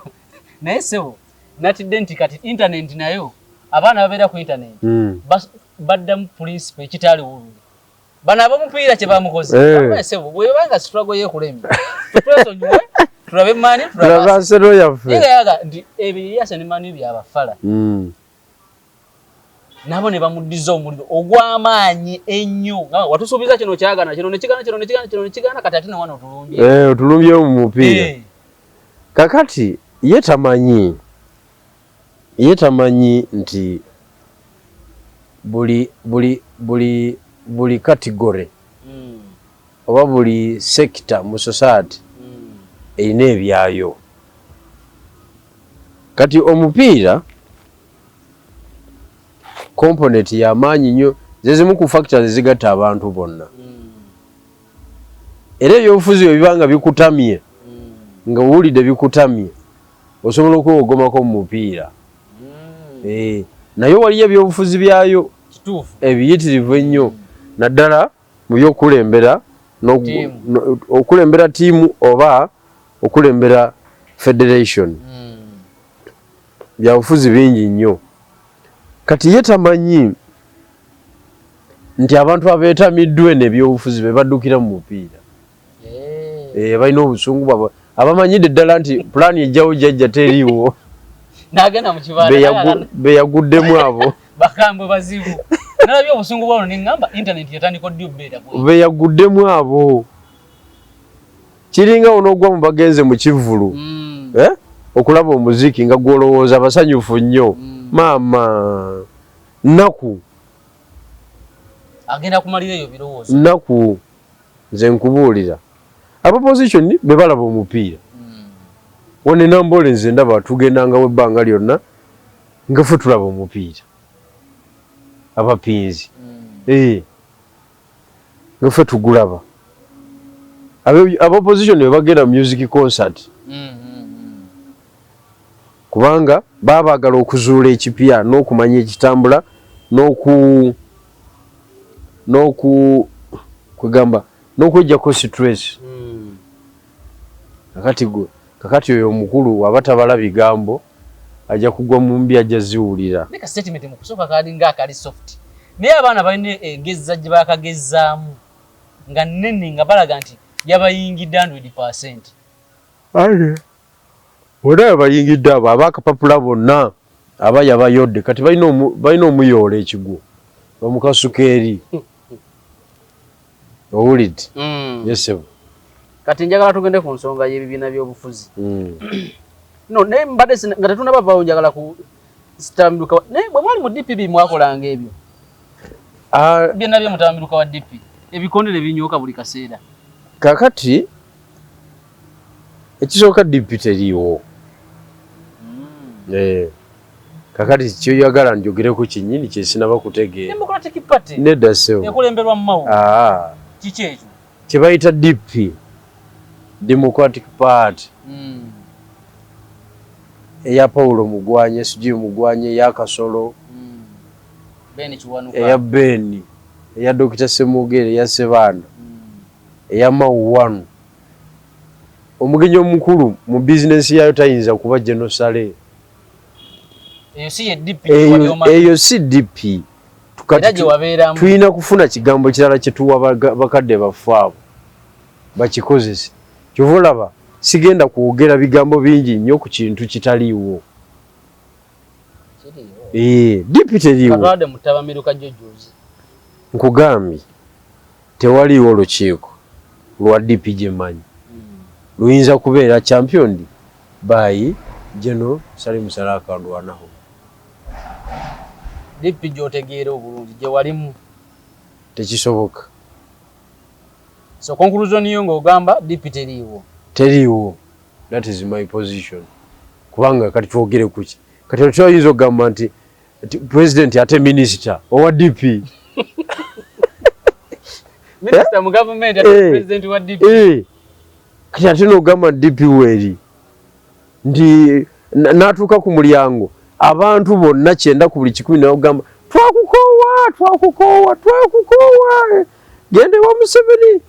naye sebo natidde nti kati intanenti nayo abaana babeera ku intanenti hmm. baddamu pulinsipo ekitaaliwo oluli bano abamupiira kye bamukoze eh. sebo bwebanga situlago yekulembye twesonyiwe tulabe mani tulabaseroyaffe nti ebyo yeyasa ne mani byabafala hmm. nabo ne bamuddiza omuliro ogw'amaanyi ennyo nga watusuubiza kino kyagana kino nekigana kino nekigana kino nekigana kati ate newano otulumbye eh, otulumbye mu mupiira eh. kakati ye tamanyi ye tamanyi nti buli buli buli buli katigore hmm. oba buli sekita mu society hmm. erina ebyayo Kati omupiira component yamaanyi nnyo zezimu ku factors ezigatta abantu bonna hmm. era ebyobufuzi webiba nga bikutamye hmm. nga owulidde bikutamye osobola okwewogomako mu mupiira hmm. eh, naye waliyo ebyobufuzi byayo ebiyitirivu ennyo naddala mu by'okukulembera okulembera tiimu oba okulembera federation hmm. byabufuzi bingi nnyo kati ye tamanyi nti abantu abeetamiddwa eno ebyobufuzi be baddukira mu mupiira eh, eh balina obusungu bwabwe abamanyidde ddala nti pulaani ejjawo jajja teriiwo nagenda mu kibanda beyaguddemu abo bakambwe bazibu nalabye obusungu bwalo neŋŋamba intaneti yatandika oddi obubeera beyaguddemu abo kiringa onoogwa mu bagenze mu kivvulu mm. eh? okulaba omuziki nga gwolowooza basanyufu nnyo mm. maama nnaku agenda kumalira eyo birowoozo nnaku nze nkubuulira aba position bebalaba omupiira one namboole nze ndaba tugendangawo ebbanga lyonna ngafe tulaba omupiira abapinzi ee eh. ngafe tugulaba aba position bebagenda music concert mm. kubanga baba baagala okuzuula ekipya n'okumanya ekitambula n'oku n'oku kwegamba n'okwejjako situreesi hmm. kakati gwe kakati oyo omukulu waba tabala bigambo ajja kugwa mu mbi ajja ziwulira naye kasitatimenti mu kusooka kalinga akali soft naye abaana balina egezza gye baakagezzaamu nga nnene nga balaga nti yabayingidde hundred percent Bonna webayingidde abo abakapapula bonna aba yabayodde kati balina omuyoola ekigwo bamukasuka eri owulidde mm. yesebo kati njagala tugende ku nsonga y'ebibiina by'obufuzi mm. no naye mbadde nga tetunabavawo njagala ku sitambiluka naye bwe mwali mu dpp mwakolanga ebyo ah. byonna bye mutambiluka wa dpp ebikonde ne binyooka buli kaseera kakati ekisooka DP teriiwo mm. eh, kakati kyoyagala njogereko kyenyini kyesinaba kutegeera nedda sewo ah. kyebayita DP Democratic Party mm. eya Paulo Mugwanya SG Mugwanya eya Kasolo mm. eya Beni eya Dokita Semugere eya Sebanda Eyama one. Omugenyi omukulu mu business yayo tayinza kuba General Saleh. Eyo si ye DP wali omanyi. Eyo si DP. Era gye wabeeramu. Tuyina kufuna kigambo kirala kye tuwa bakadde baffe abo. Bakikozese. Kyova olaba sigenda kwogera bigambo bingi nnyo ku kintu kitaliiwo. Ee, eh, DP teriiwo. Katwade mutabamiruka jjo jjuuzi. Nkugambye. Tewaliiwo lukiiko lwa DP gye mmanyi luyinza kubeera championed by General Salim Saleh Akalwanaho. DP gy'otegeera obulungi gye walimu? Tekisoboka. So conclusion yo ng'ogamba DP teriiwo? Teriiwo. That is my position. Kubanga kati twogere ku ki? Kati omuntu ayinza okugamba nti president ate minister owa DP minister eh? mu government ate eh. president wa DP eh kati ate no gama DP weri ndi natuka ku mulyango abantu bonna kyenda ku buli kikumi nayo gamba twakukowa twakukowa twakukowa gende wa museveni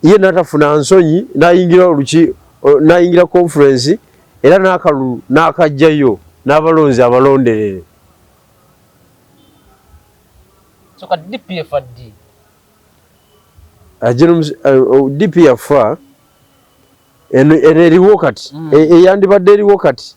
ye natafuna nsonyi nayingira oluki nayingira conference era nakalulu nakajjayo nabalonzi abalonderere soka dpf addi ajira dp yafa eno eriwo kati mm. e, eyandibadde eriwo kati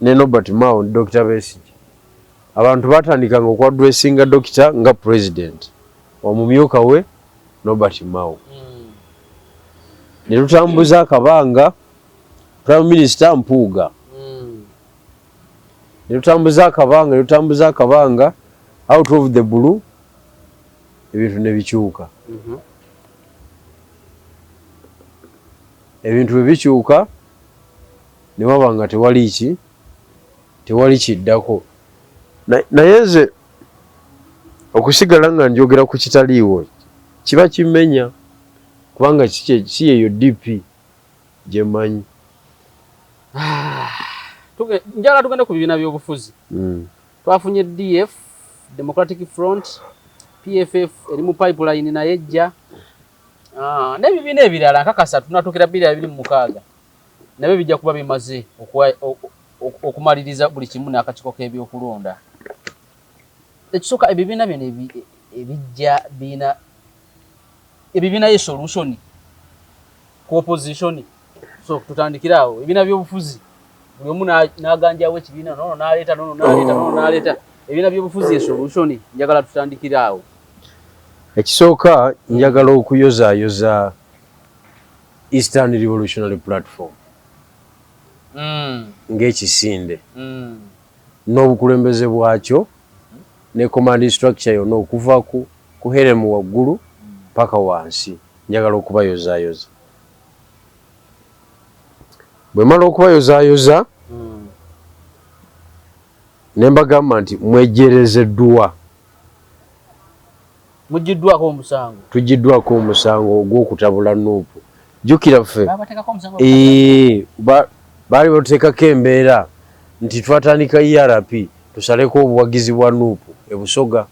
ne Nobert Mao ne Dokita Besigye abantu baatandikanga okwadwesinga Dokita nga pulezidenti omumyuka we Nobert Mao hmm. ne lutambuza akabanga prime minister Mpuuga hmm. ne lutambuza akabanga ne lutambuza akabanga out of the blue ebintu ne bikyuka mhm. ebintu bwe bikyuka ne waba nga tewali ki tewali kiddako naye nze okusigala nga njogera ku kitaliiwo kiba kimenya kubanga si yeyo dp gye mmanyi ah, njala tugende ku bibiina by'obufuzi hmm. twafunye df democratic front pff eri mu pipeline naye ejja ah, n'ebibiina ebirala nkakasa tunatuukira bbiri abiri mu mukaaga nabyo bijja kuba bimaze okumaliriza buli kimu n'akakiiko k'ebyokulonda. Ekisooka ebibiina bino ebijja biina ebibiina ye solution ku opposition so tutandikire awo ebibiina by'obufuzi buli omu n'aganjawo ekibiina nono n'aleeta nono n'aleeta nono n'aleeta ebibiina by'obufuzi ye solution njagala tutandikire awo. Ekisooka njagala okuyozaayoza Eastern Revolutionary Platform mm. ng'ekisinde mm. n'obukulembeze bwakyo mm -hmm. ne command structure yonna okuva ku, ku heremu waggulu paka wansi njagala okubayozayoza bwe mala okubayozayoza mm. ne mbagamba nti mwejerezeddwa Mujjiddwako omusango. Tujjiddwako omusango ogw'okutabula Nup. Jjukira ffe eeh baali batuteekako embeera nti twatandika ERP tusaleko obuwagizi bwa Nup e Busoga.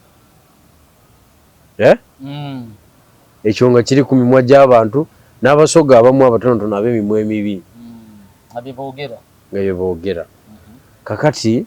Eh? Mm. Ekyo nga kiri ku mimwa gy'abantu n'Abasoga abamu abatonotono ab'emimwa emibi. Mm. Nga bye boogera. Nga bye boogera. Mm-hmm. Kakati.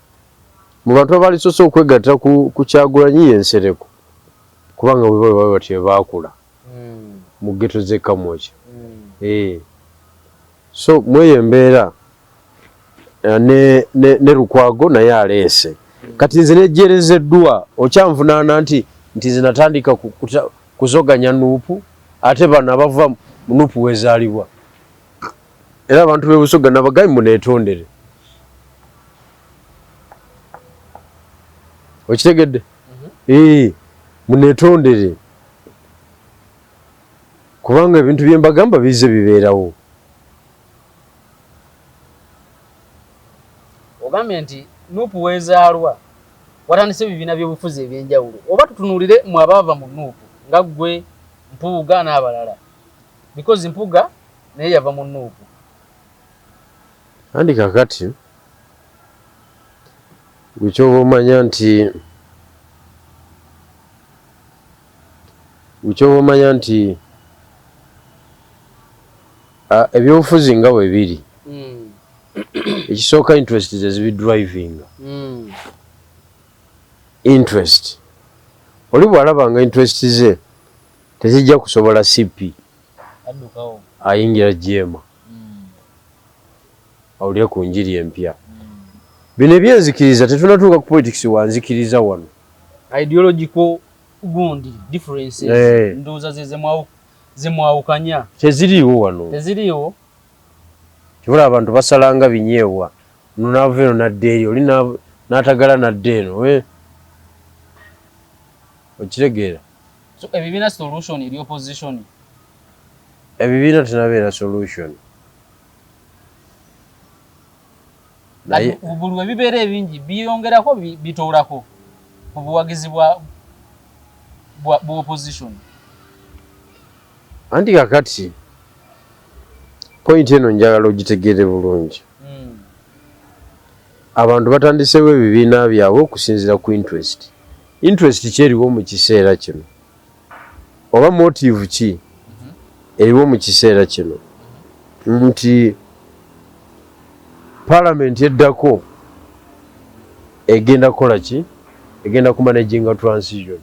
Mu bantu abalisoose okwegatta ku ku Kyagulanyi ye Nsereko kubanga bwe baba bwe batyo be baakula mu ghetto z'e Kamwokya. Eeh so mw'eyo embeera ne ne ne Lukwago naye aleese. Kati nze nejjeerezeddwa okyanvunaana nti nti nze natandika ku kuzoganya nup ate bano abava mu nup wezaalibwa. era abantu b'e Busoga nabagayi muneetondere okitegedde mhm. ee muneetondere kubanga ebintu bye mbagamba bize bibeerawo ogambye nti nuupu weezaalwa watandise ebibiina by'obufuzi eby'enjawulo oba tutunuulire mwe abaava mu nuupu nga ggwe mpuuga n'abalala Because mpuga naye yava mu nuupu. Andi kakati gwe kyoba omanya nti gwe kyoba omanya nti ebyobufuzi nga bwe biri hmm. ekisooka interest ze zibi drivinga hmm. interest oli bw'alaba nga interest ze Tezijja kusobola CP ayingira jeema hmm. awulire ku njiri empya. Hmm. Bino ebyenzikiriza tetunatuuka ku politics wanzikiriza wano. Ideological gundi differences eh. ndowooza ze zemwawukanya teziriiwo wano teziriiwo kibula abantu basalanga binyeebwa nonaava eno nadda eri oli n'atagala nadda eno eh. okitegeera So ebibiina solution eri opposition? Ebibiina tenabeera solution. Naye buli we bibeera ebingi biyongerako bitoolako ku buwagizi bwa bwa opposition. Anti kakati point eno njagala ogitegeere bulungi. Hmm. Abantu batandiseewo ebibiina byabwe okusinziira ku interest. interest ki eriwo mu kiseera kino oba motive ki eriwo mu kiseera kino nti palamenti eddako egenda kukola ki egenda ku managinga transition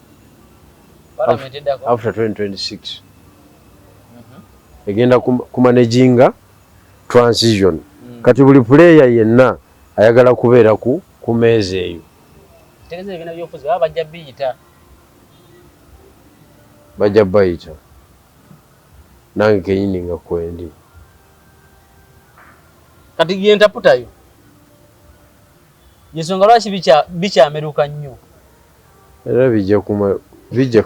after 2026 mhm. egenda ku managinga transition mm. kati buli puleeya yenna ayagala kubeera ku meeza eyo Tegeza ebibiina byobufuzi baba bajja biyita. Bajja bayita nange kenyini nga kwendi. Kati gyentaputayo yensonga lwaki bikyameruka nnyo era bijja kuma bijja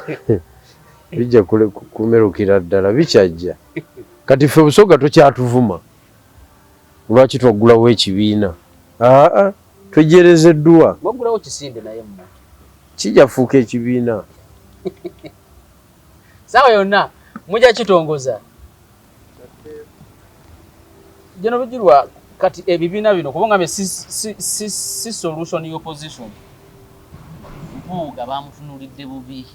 bijja kumerukira ddala bikyajja kati ffe busoga tokyatuvuma lwaki twaggulawo ekibiina aa Twejjereze dduwa. Mwaggulawo kisinde naye mmwe. Kijja kufuuka ekibiina. Saawa yonna mujja kitongoza. Jeno bijirwa kati ebibiina bino kuba ngambe si, si, si, si solution y'opposition. Mpuuga bamutunulidde bubi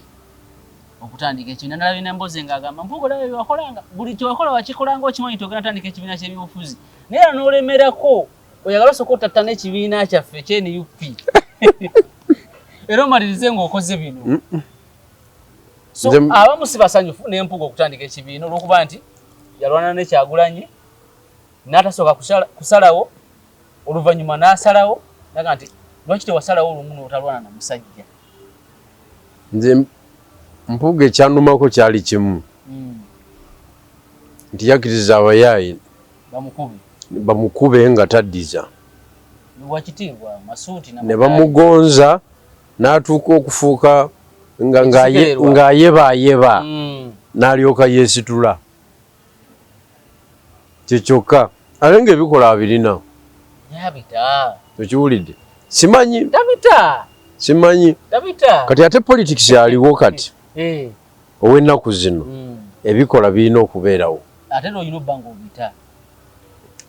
okutandika ekibiina nalabye nembozi nga agamba mpuuga olaba byewakolanga buli kyewakola wakikolanga okimanyi togenda tandika ekibiina ky'ebyobufuzi naye era n'olemerako oyagala osooka ottattana ekibiina kyaffe ekye nup era omalirize ng'okoze bino so abamu si basanyufu n'empuga okutandika ekibiina olw'okuba nti yalwana nekyagulanyi n'atasooka kusalawo oluvannyuma n'asalawo naga nti lwaki tewasalawo olumu n'otalwana na musajja nze mpuuga ekyanumako kyali kimu hmm. nti yakiriza abayaayi bamukube nga taddiza ne bamugonza n'atuuka okufuuka ng'ayebaayeba hmm. n'alyoka yeesitula kyekyokka ate ng'ebikola abirina okiwulidde simanyi simanyi kati ate politics aliwo kati eh. ow'ennaku zino mm. ebikola birina okubeerawo ate n'olina obba ng'obita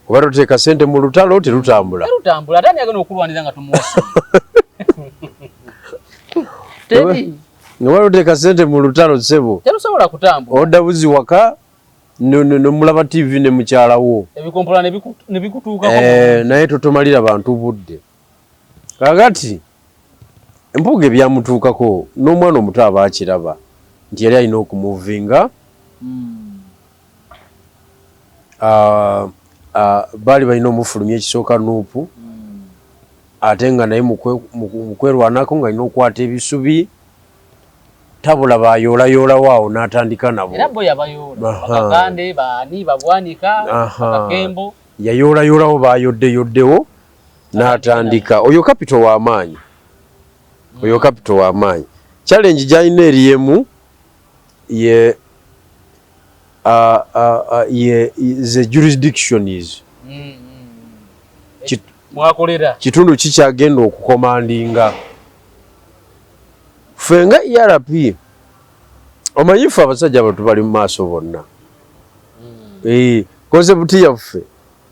oba toteeka sente mu lutalo terutambula terutambula ate ani agenda okulwanira nga tumuwasa nga wali oteeka sente mu lutalo sebo terusobola kutambula odda buzi waka nomulaba tv ne mukyala wo ebikompolana nebikutuukako eh, naye totomalira bantu budde Kakati Mpuuga ebyamutuukako n'omwana omuto aba akiraba nti yali alina okumuvinga ah, ah, baali balina omufulumya ekisooka nuupu ate nga naye mukwerwanako nga alina okukwata ebisubi tabula bayoolayolawo awo n'atandika nabo yayoolayolawo bayoddeyoddewo n'atandika oyo kapito w'amaanyi oyo kapito w'amaanyi challenge gy'alina eri emu ye ye the jurisdiction is mwakolera kitundu kikyagenda okukomandinga ffe nga erp omanyi ffe abasajja abantu bali mu maaso bonna hmm. eh, konsepti yaffe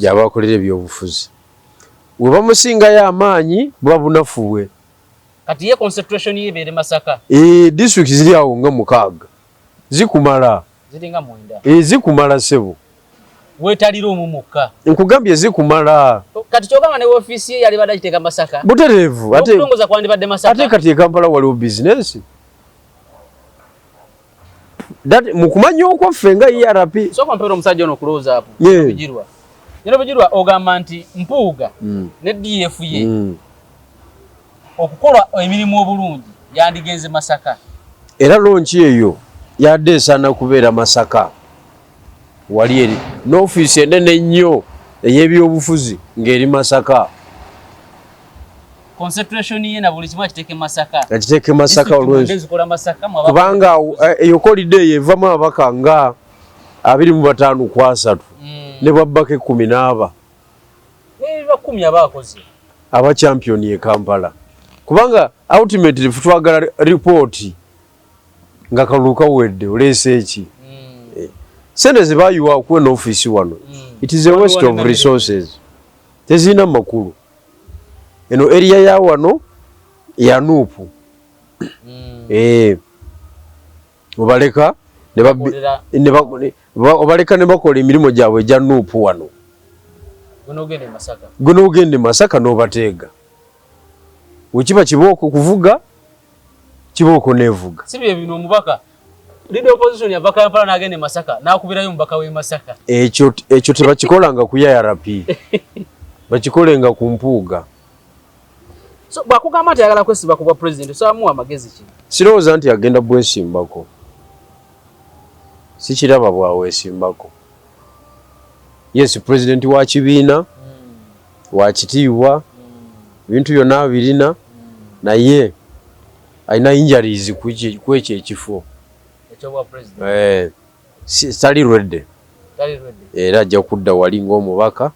gyabakolera ebyobufuzi we bamusingayo amaanyi buba bunafu bwe eh, disitulikiti ziri awo nga mukaaga zikumala eh, zikumala sebo wetalira omu mukka nkugambye zikumala kati kyogamba ne ofiisi ye yali badagiteeka masaka butereevu ate kati ekampala waliwo bizinesi That mukumanya okwo ffe nga ERP. Soko mpero omusajja ono close up. Yeah. Bijirwa. Yino bijirwa ogamba nti mpuuga mm. ne DF ye. Mm. Okukola emirimu obulungi yandigenze Masaka. Era lonchi eyo yadde esana kubeera Masaka. wali eri n'ofiisi enene ennyo ey'ebyobufuzi ng'eri masaka akiteeke masaka olwkubanga eh, eyokolidde eyo evamu ababaka nga abiri mu bataano ku asatu hmm. ne bwabbaka ekkumi n'aba aba championi e kampala kubanga ultimately twagala ripooti nga kalulu kawedde oleese ki hmm. eh, sente zebayiwa okuwa eno ofiisi wano hmm. it is a west of resources tezirina makulu eno eriya ya wano yanuupu hmm. eh, obaleka obaleka ne bakola emirimu gyabwe egya nuupu wano gwe n'ogenda e masaka n'obateega wekiba kibooko kuvuga Kibooko nevuga. Si bye bino omubaka leader opposition yava Kampala n'agenda e Masaka n'akubirayo omubaka w'e Masaka. Ekyo ekyo tebakikolanga ku IRP. Bakikolenga ku mpuuga. So bwakugamba nti ayagala kwesiba ku bwa president osabamuwa amagezi ki? Sirowooza nti agenda bwesimbako. Sikiraba bwawesimbako. Yes president wa kibiina. Wakitiibwa ebintu byonna abirina naye alina injuries kwekyo ekifo eh, tali ready era ajja kudda wali ng'omubaka mm.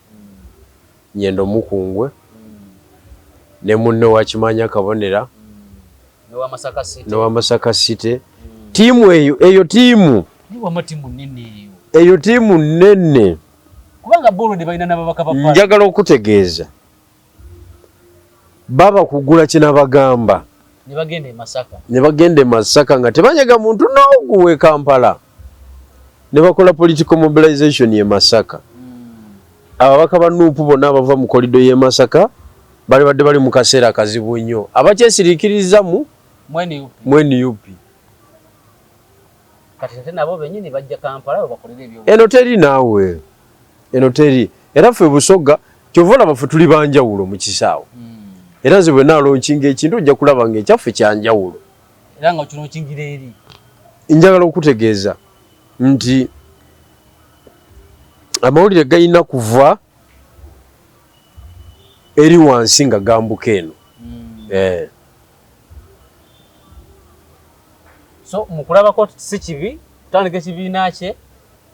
Nyendo Mukungwe mm. ne munne wakimanya kabonera mm. newa Masaka City tiimu eyo eyo tiimu eyo tiimu nnene kubanga bo already balina n'ababaka ba palamenti. Njagala okutegeeza baba kugula kye nabagamba ne bagenda e Masaka ne bagenda e Masaka nga tebanyaga muntu n'ogu w'e Kampala ne bakola political mobilization ye Masaka. Hmm. Ababaka ba Nuupu bonna abava mu kolido y'e Masaka bali badde bali mu kaseera kazibu nnyo abakyesiriikirizamu mu NUP. Kati ate nabo benyini bajja Kampala webakolera ebyo. Eno teri naawe. Eno teri. Era ffe Busoga kyova olaba ffe tuli banjawulo mu kisaawe. Hmm. Era nze bwe nalonchinga ekintu ojja kulaba nga ekyaffe kya njawulo. Era nga okilonchingira eri. Njagala okutegeeza nti amawulire galina kuva eri wansi nga gambuka eno. Hmm. Eh. so mukulabako si kibi kutandika ekibiina kye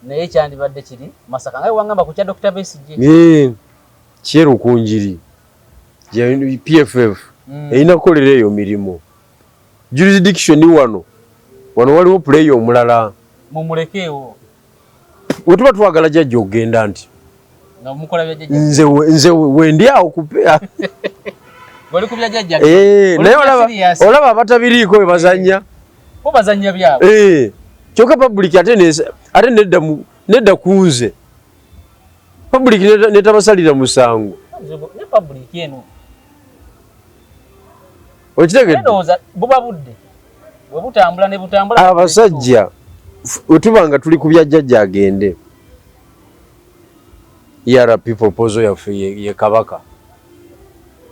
naye kyandibadde kiri masaka naye wangamba ku kya dr besigye eh, kyerukunjiri pff hmm. erina kukolera eyo mirimu jurisdiction wano wano waliwo puleeya omulala mumulekeewo wetuba twagala jajja okugenda nti nze nze wendi awo kupea eh, naye olaba abatabiriiko we bazanya eh, kyoka public ate nedda nedda kunze public netabasalira musango okitegedde ndowooza buba budde bwe butambula ne butambula abasajja wetuba nga tuli ku bya jjajja agende era people pozo yaffe ye kabaka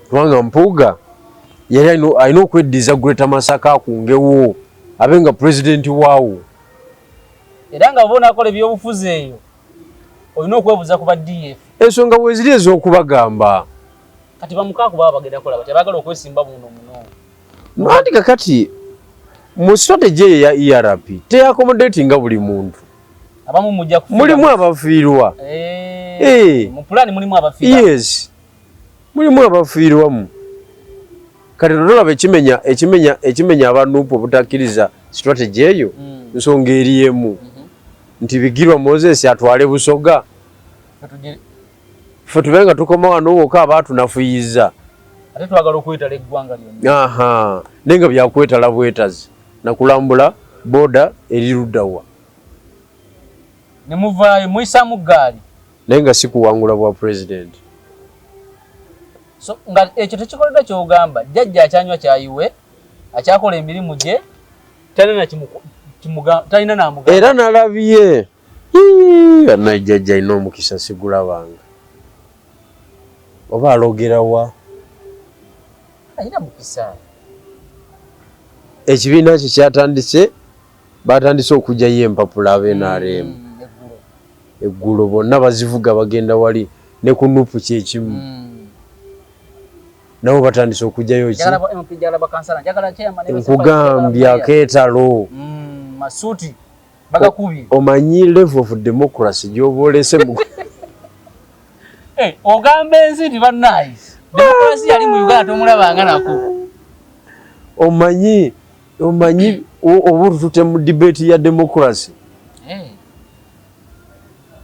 kubanga mpuuga yali alina okweddiza greater masaka akungewo abe nga pulezidenti waawo era nga oba onakola ebyobufuzi eyo olina okwebuza ku ba df ensonga weziri ez'okubagamba kati bamukaku baba bagenda kola batya bagala okwesimba muno muno nwandi kakati mu strategy eyo ya erp teyakomodatinga buli muntu abamu mujja kufiirwa mulimu abafiirwa eh, eh. mu pulani mulimu abafiirwa yes mulimu abafiirwamu kati totolaba ekimenya ekimenya ekimenya abanupu obutakkiriza strategy eyo mm. nsonga eri emu mm -hmm. nti bigirwa moses atwale busoga ffe tube nga tukoma wano woka aba tunafuyiza ate twagala okwetala eggwanga lyonna aha naye nga byakwetala bwetazi nakulambula boda eri luddawa ne muvaayo muyisamu ggaali naye nga sikuwangula bwa president so nga ekyo tekikoledwa kyogamba jajja akyanywa kyayiwe akyakola emirimu gye talina namuga era nalabye banaye jajja alina omukisa sigulabanga oba alogerawa alina mukisa ekibiina kye kyatandise batandise okugyayo empapula abenrm mm, eggulo bonna bazivuga bagenda wali ne ku nupu kyekimu mm. nabo batandise okugyayo ki nkugambye akeetalo mm, bagakubye omanyi level of democracy gyoba olese mu eh, ogamba ensi nti bannaye democracy yali mu uganda tomulabanga nako omanyi omanyi obutute mu debate ya democracy eh.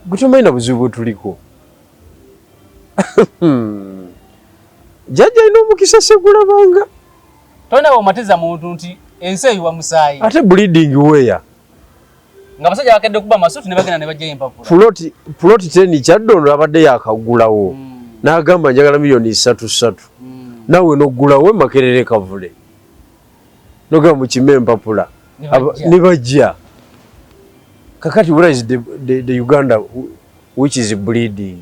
gwetumanyi na buzibu bwetuliko jajja alina omukisa segulabanga Tolina bw'omatiza muntu nti ensi eyiwa musaayi. Ate bleeding where? Nga basajja bakedde kuba masuuti ne bagenda ne bajjayo empapula. Puloti puloti teni Kyaddondo abadde yaakaggulawo mm. n'agamba njagala miliyoni ssatu ssatu mm. naawe n'oggulawo Makerere Kavule nogamba mukime empapula ne bajja kakati where is the, the, the Uganda which is bleeding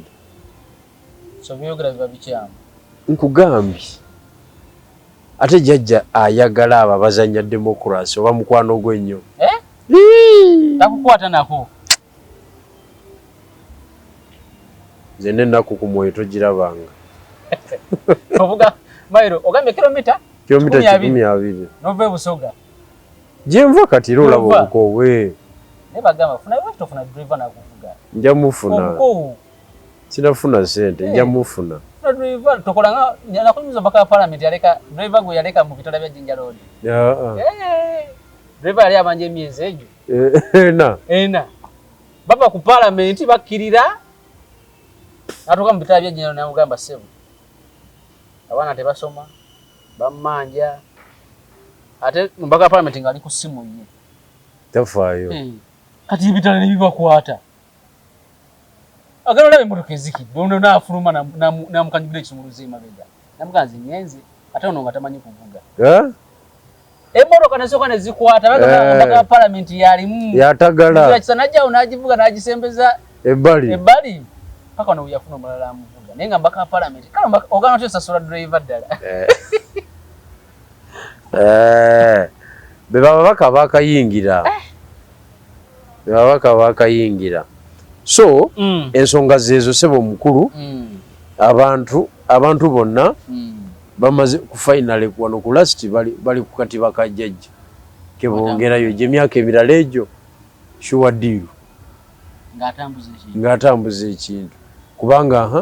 So byogera biba bikyamu. Nkugambye ate jajja ayagala abo abazanya democracy oba mukwano gwe nnyo eh? takukwata nako nze nenaku ku mwoyo togirabanga ovuga mairo ogambye kilomita kilomita kikumi abiri nova ebusoga gyenva kati era olaba obukowe nebagamba funa lwaki tofuna driver nakuvuga nja mufuna obukowu sinafuna sente nja eh. mufuna tokolanga nakunyumiza omubaka wa palamenti yaleka driver gwe yaleka mu bitala bya jinja road eh. driver yali abanja emyezi egyo ena eh, ena bava ku palamenti bakkirira natuuka mu bitala bya jinja road namugamba sebo abaana tebasoma bamanja ate omubaka wa palamenti ngaali ku simu ye tafaayo kati ebitala nebibakwata Agala olaba emmotoka ezikidde ono n'afuluma n'amukanyugira ekisumuluzo emabega namugamba nze ngenze ate ono nga tamanyi kuvuga emmotoka nesooka ne zikwata bagamba eh. omubaka wa palamenti yalimu yatagalakisa najjawo n'agivuga n'agisembeza ebbali ebbali paka ono weyafuna omulala amuvuga naye nga mbaka wa palamenti kale ogana otya osasula driva ddala eh. Eh, be bababaka bakayingira eh. be babaka bakayingira so mm. ensonga zeezo sebo omukulu mm. abantu abantu bonna mm. bamaze ku finale wano ku last bali, bali ku katiba ka jajja kebongerayo gye myaka emirala egyo shuwa diiru ng'atambuza ekintu kubanga ha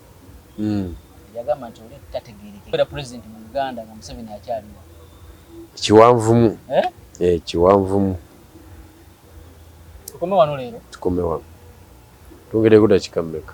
Yagamba nti oli tategeerekeka okubeera Pulezidenti mu Uganda nga Museveni akyaliwo. Kiwanvumu. Eh, kiwanvumu. Tukome wano leero? Tukome wano. Twongereko dakiika mmeka?